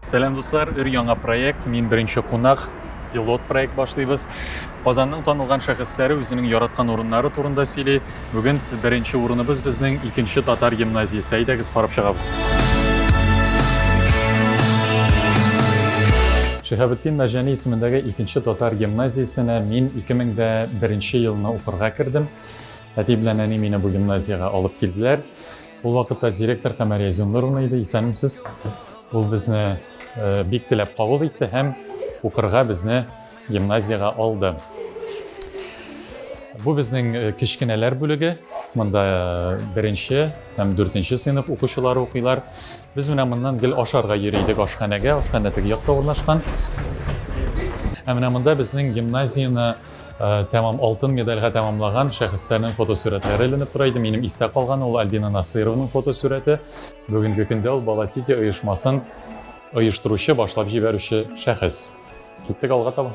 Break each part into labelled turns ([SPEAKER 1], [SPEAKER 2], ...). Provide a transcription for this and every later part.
[SPEAKER 1] Сәлам дуслар, өр яңа проект, мин беренче кунак, пилот проект башлыйбыз. Казанның танылган шәхесләре үзенең яраткан урыннары турында сөйли. Бүген беренче урыныбыз безнең икенче татар гимназиясе. Әйдәгез карап чыгабыз. Шиһабетдин Мәҗәни исемендәге икенче татар гимназиясенә мин 2001 елны укырга кердем. Әти белән әни мине бу гимназиягә алып килделәр. Ул вакытта директор Камәрия Зиннуровна иде, исәнмесез. Ул безне бик теләп кабул итте һәм укырга безне гимназиягә алды. Бу безнең э, кечкенәләр бүлеге. Монда э, беренче һәм дүртенче сыйныф укучылары укыйлар. Без менә моннан гел ашарга йөри идек ашханәгә. Ашханә теге якта урнашкан. Ә менә монда безнең гимназияне тәмам алтын медальгә тәмамлаган шәхесләрнең фотосурәтләре эленеп тора иде. Минем истә калганы ул Альбина Насыйрованың фотосурәте. Бүгенге көндә ул Бала Сити оешмасын оештыручы, башлап җибәрүче шәхес. Киттек алга таба.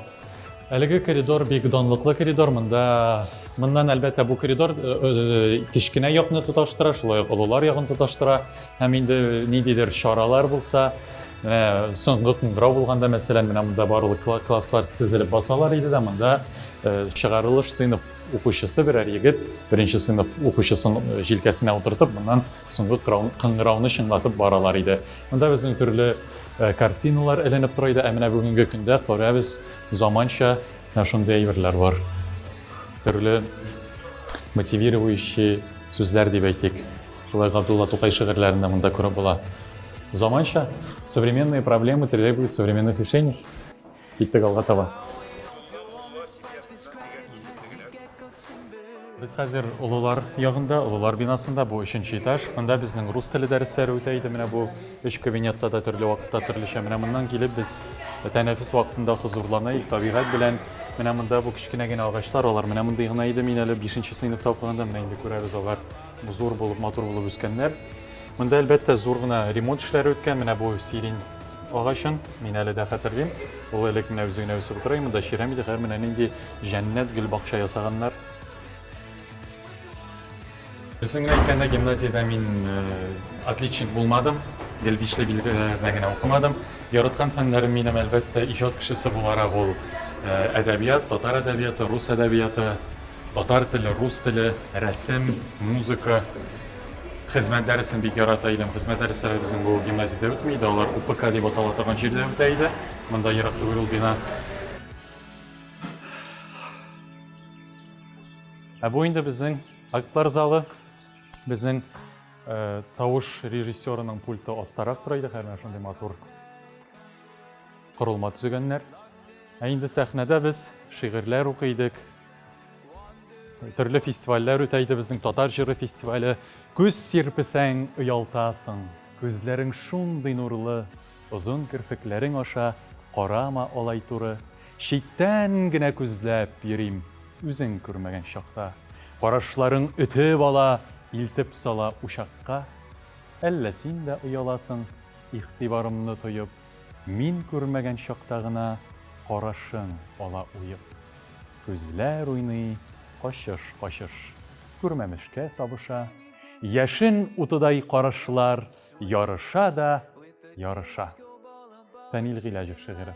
[SPEAKER 1] Әлеге коридор бик данлыклы коридор. Монда моннан әлбәттә бу коридор э, э, кечкенә якны тоташтыра, шулай ук олылар ягын тоташтыра. Һәм инде ниндидер чаралар булса, менә соңгы куңгырау булганда, мәсәлән, менә монда барлык класслар тезелеп басалар иде дә, монда э, чыгарылыш сыйныф укучысы берәр егет беренче сыйныф укучысын э, җилкәсенә утыртып, моннан соңгы кыңгырауны чыңлатып баралар иде. Монда безнең төрле э, картиналар эленеп тора иде, ә менә бүгенге көндә күрәбез заманча менә шундый әйберләр бар. Төрле мотивирующий сүзләр дип әйтик. Шулай Габдулла Тукай шигырьләрен дә монда күреп була. Заманча, современные проблемы требуют современных решений. Киттек алга таба. Без хәзер олылар ягында, олылар бинасында, бу өченче этаж. Монда безнең рус теле дәресләре үтә иде. Менә бу өч кабинетта да төрле вакытта төрлечә. Менә моннан килеп без тәнәфес вакытында хозурлана идек табигать белән. Менә монда бу кечкенә генә агачлар, алар менә мондый гына иде. Мин әле 5 сыйныфта укыганда менә инде күрәбез алар. Зур булып, матур булып үскәннәр. Монда, әлбәттә, зур гына ремонт эшләре үткән. Менә бу сирень агачын мин әле дә хәтерлим. Ул элек менә үзе генә үсеп утыра, монда чирәм иде, хәзер менә нинди җәннәт гөл бакча ясаганнар. Үзем генә әйткәндә гимназиядә мин э, отличник булмадым, гел бишле билгеләрдә генә укымадым. Яраткан фәннәрем минем, әлбәттә, иҗат кешесе буларак ул э, әдәбият, татар әдәбияты, рус әдәбияты, Татар теле, рус теле, рәсем, музыка. Хезмәт дәресен бик ярата идем. Хезмәт дәресләре безнең бу гимназиядә үтми иде, алар УПК дип атала торган җирдә үтә иде. Монда ерак түгел ул бина. Ә бу инде безнең актлар залы. Безнең э, тавыш режиссерының пульты астарак тора иде, хәзер шундый матур корылма төзегәннәр. Ә инде сәхнәдә без шигырьләр укый идек, Төрле фестивальләр үтә иде безнең татар җыры фестивале. Күз сирпесәң, оялтасың. Күзләрең шундый нурлы, озын керфекләрең аша карама алай туры. Читтән генә күзләп йөрим, үзең күрмәгән чакта. Карашларың өтеп ала, илтеп сала учакка. Әллә син дә ояласың, игътибарымны тоеп? Мин күрмәгән чакта гына Карашың ала уеп. Күзләр уйный качыш-качыш, Күрмәмешкә сабыша. Яшен утыдай карашлар Ярыша да ярыша. Фәнил Гыйләҗев шигыре.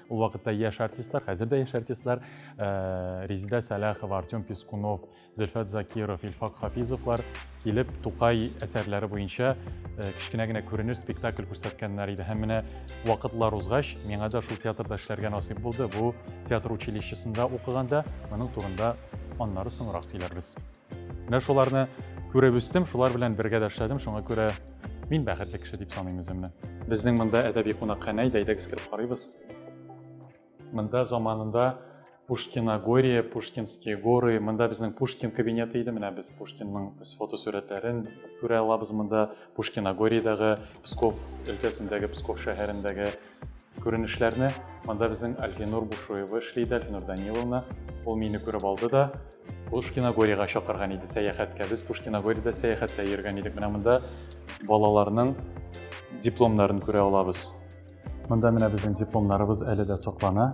[SPEAKER 1] Ул вакытта яшь артистлар, хәзер дә яшь артистлар э, Резида Сәләхова, Артем Пискунов, Зөлфәт Закиров, Илфак Хафизовлар килеп Тукай әсәрләре буенча э, кечкенә генә күренеш спектакль күрсәткәннәр иде. Һәм менә вакытлар узгач, миңа да шул театрда эшләргә насыйп булды. Бу театр училищесында укыганда моның турында аннары соңрак сөйләрбез. Менә шуларны күреп үстем, шулар белән бергә дә эшләдем, шуңа күрә мин бәхетле кеше дип саныйм үземне. Безнең монда әдәби кунакханә, әйдәгез кереп карыйбыз. Монда заманында Пушкиногория, Пушкинские горы, монда безнең Пушкин кабинеты иде, менә без Пушкинның фотосурәтләрен күрә алабыз монда, Пушкиногориядәге, Псков өлкәсендәге, Псков шәһәрендәге күренешләрне. Монда безнең Альфинур Бушуева эшли иде, Альфинур Даниловна. Ул мине күреп алды да, Пушкиногорьега чакырган иде сәяхәткә. Без Пушкиногорьда сәяхәткә йөргән идек. Менә монда балаларның дипломнарын күрә алабыз. Монда менә безнең дипломнарыбыз әле дә саклана.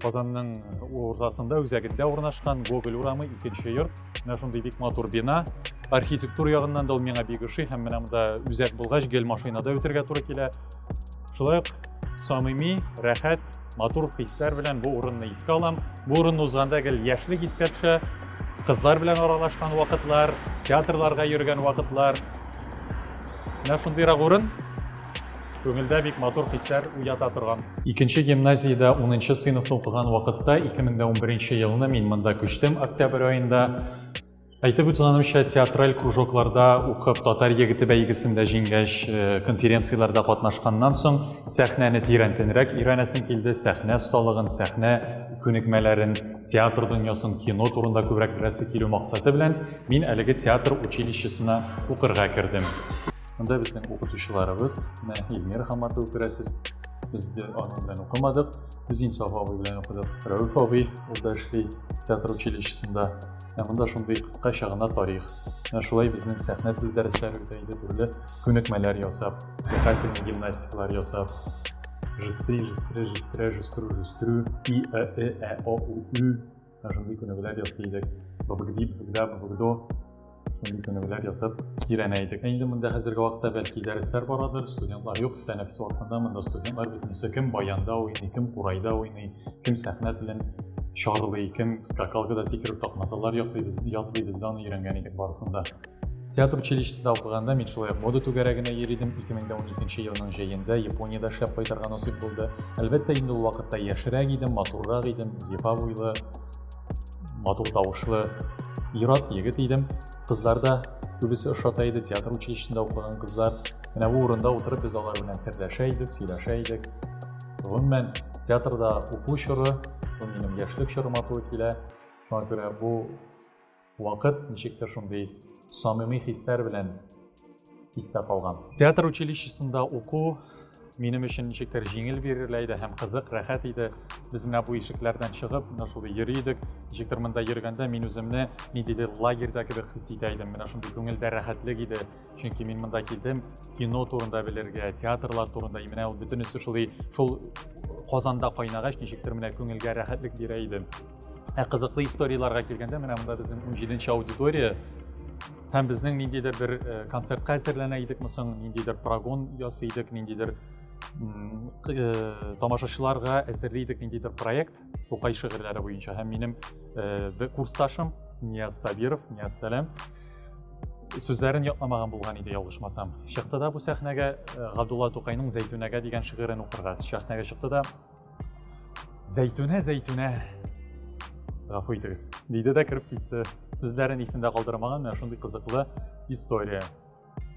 [SPEAKER 1] Казанның уртасында үзәгендә урнашкан Гоголь урамы икенче йорт. Менә шундый бик матур бина. Архитектура ягыннан да ул миңа бик ошый һәм менә монда үзәк булгач гел машинада үтергә туры килә. Шулай ук самими, рәхәт, матур хисләр белән бу урынны искә алам. Бу урынны узганда гел яшьлек искә төшә. Кызлар белән аралашкан вакытлар, театрларга йөргән вакытлар. Менә шундыйрак урын. Күңелдә бик матур хисләр уята торган. Икенче гимназиядә унынчы сыйныфны укыган вакытта, 2011 елны мин монда күчтем октябрь аенда. Әйтеп үтсәнемчә, театраль кружокларда укып, татар егете бәйгесендә җиңгәч, э, конференцияләрдә катнашканнан соң, сәхнәне тирәнтенрәк өйрәнәсем килде, сәхнә осталыгын, сәхнә күнекмәләрен, театр дөньясын, кино турында күбрәк беләсе килү максаты белән, мин әлеге театр училищесына укырга кердем. Монда безнең укытучыларыбыз, менә Эльмира Хаматова күрәсез. Без дә аның белән укымадык. Без Инсаф абый белән укыдык. Рәүф абый ул да эшли театр училищесында. Ә монда шундый кыскача гына тарих. Менә шулай безнең сәхнә теле дәресләре үтә иде, төрле күнекмәләр ясап, дыхательный гимнастикалар ясап, жестри, жестре, жестре, жестру, жестрю, и, э, э, э, о, у, ü, Ә шундый күнегүләр ясый идек. Бабгди, бабгда, бабгдо. Шундый күнегүләр ясап өйрәнә идек. Ә инде монда хәзерге вакытта бәлки дәресләр барадыр, студентлар юк. Тәнәфес вакытында монда студентлар бөтенесе кем баянда уйный, кем курайда уйный, кем сәхнә телен чарлый, кем скакалкада сикереп такмасалар ятлый, без, ятлый, без аны өйрәнгән идек барысында. Театр училищесында укыганда мин шулай мода түгәрәгенә йөри идем. 2012 елның җәендә Япониядә эшләп кайтырга насыйп булды. Әлбәттә, инде ул вакытта яшьрәк идем, матуррак идем, зифа буйлы, матур тавышлы ират егет идем. Кызлар да күбесе ошата иде, театр училищесында укыган кызлар. Менә бу урында утырып без алар белән серләшә идек, сөйләшә идек. Гомумән, театрда уку чоры, бу минем яшьлек чорыма туры килә. Шуңа күрә бу Вакыт ничектер шундый самими хисләр белән истә калган. Театр училищесында уку минем өчен ничектер җиңел бирелә иде һәм кызык, рәхәт иде. Без менә бу ишекләрдән чыгып, менә шулай йөри идек. Ничектер монда йөргәндә мин үземне ниндидер лагерьда кебек хис итә идем. Менә шундый күңелдә рәхәтлек иде. чөнки мин монда килдем кино турында белергә театрлар турында и менә ул бөтенесе шулай шул казанда кайнагач ничектер менә күңелгә рәхәтлек бирә иде ә кызыклы историяларга килгәндә менә монда безнең унҗиденче аудитория һәм безнең ниндидер бер э, концертка әзерләнә идекме соң ниндидер прогон ясый идек ниндидер э, тамашачыларга әзерли идек ниндидер проект Тукай шигырьләре буенча һәм минем э, курсташым Нияз Сабиров, Нияз Сәләм сүзләрен ятламаган булган иде ялгышмасам. Чыкты да бу сәхнәгә э, Габдулла Тукайның Зәйтүнәгә дигән шигырен укырга сәхнәгә чыкты да Зәйтүнә, Зәйтүнә, гафу итегез, диде дә кереп китте. Сүзләрен исендә калдырмаган, менә шундый кызыклы история.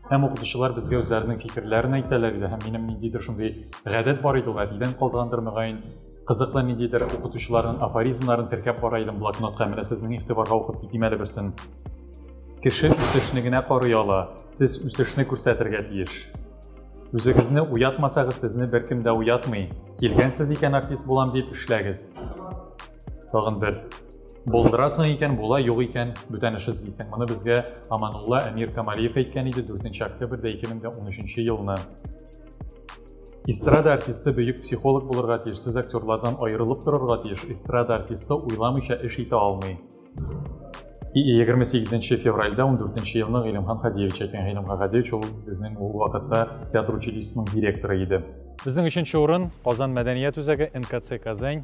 [SPEAKER 1] Һәм укытучылар безгә үзләренең фикерләрен әйтәләр иде, һәм минем ниндидер шундый гадәт бар иде ул, әтидән калдыргандыр мөгаен, кызыклы ниндидер укытучыларның афоризмнарын теркәп бара идем блокнотка, менә сезнең игътибарга укып китим әле берсен. Кеше үсешне генә карый ала, сез үсешне күрсәтергә тиеш. Үзегезне уятмасагыз, сезне беркем дә уятмый. Килгәнсез икән артист булам дип, эшләгез. Тагын бер Булдырасың икән, була, юк икән, бүтән эш эзлисең. Моны безгә Аманулла Әмир Камалиев әйткән иде 4 октябрьдә 2013 елны. Эстрада артисты бөек психолог булырга тиеш, сез актерлардан аерылып торырга тиеш. Эстрада артисты уйламыйча эш итә алмый. 28 февральдә 14 елны Гыйлемхан Хадиевич әйткән. Гыйлемхан Хадиевич ул безнең ул вакытта театр училищесының директоры иде. Безнең өченче урын Казан мәдәният үзәге НКЦ Казань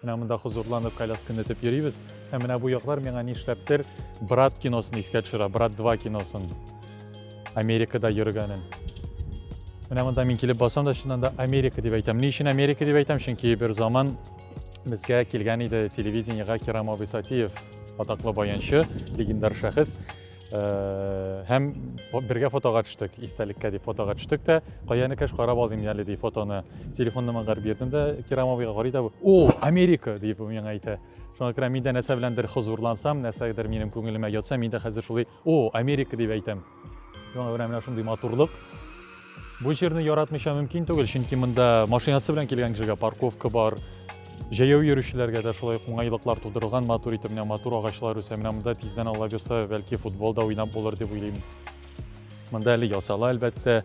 [SPEAKER 1] Менә монда хозурланып колясканы этеп йөрибез. Ә менә бу яклар миңа нишләптер Брат киносын искә төшерә, Брат 2 киносын. Америкада йөргәнен. Менә монда мин килеп басам да, чыннан да Америка дип әйтәм. Ни өчен Америка дип әйтәм? Чөнки бер заман безгә килгән иде телевидениегә Кирам абый Сатиев, атаклы баянчы, легендар шәхес. Э, һәм бергә фотога төштек истәлеккә дип фотога төштек тә каяны кәш карап алдым әле ди фотоны телефонны маңа бирдем дә кирамовыйга карый да о америка дип миңа әйтә шуңа күрә мин дә нәрсә беләндер хозурлансам нәрсәдер минем күңелемә ятса мин дә хәзер шулай о америка дип әйтәм шуңа күрә менә шундый матурлык Бу җирне яратмыйча мөмкин түгел, чөнки монда машинасы белән килгән кешегә парковка бар, җәяү йөрүчеләргә дә шулай ук уңайлыклар тудырылган, матур итеп менә матур агачлар үсә. Менә монда тиздән алла бирса, бәлки футбол да уйнап булыр дип уйлыйм. Монда әле ясала, әлбәттә.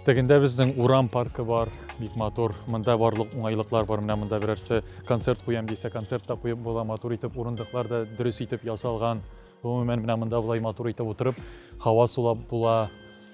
[SPEAKER 1] Тегендә безнең урам паркы бар, бик матур. Монда барлык уңайлыклар бар. Менә монда берәрсе концерт куям дисә, концерт та куеп була. Матур итеп урындыклар да дөрес итеп ясалган. Гомумән, менә монда болай матур итеп утырып, һава сулап була.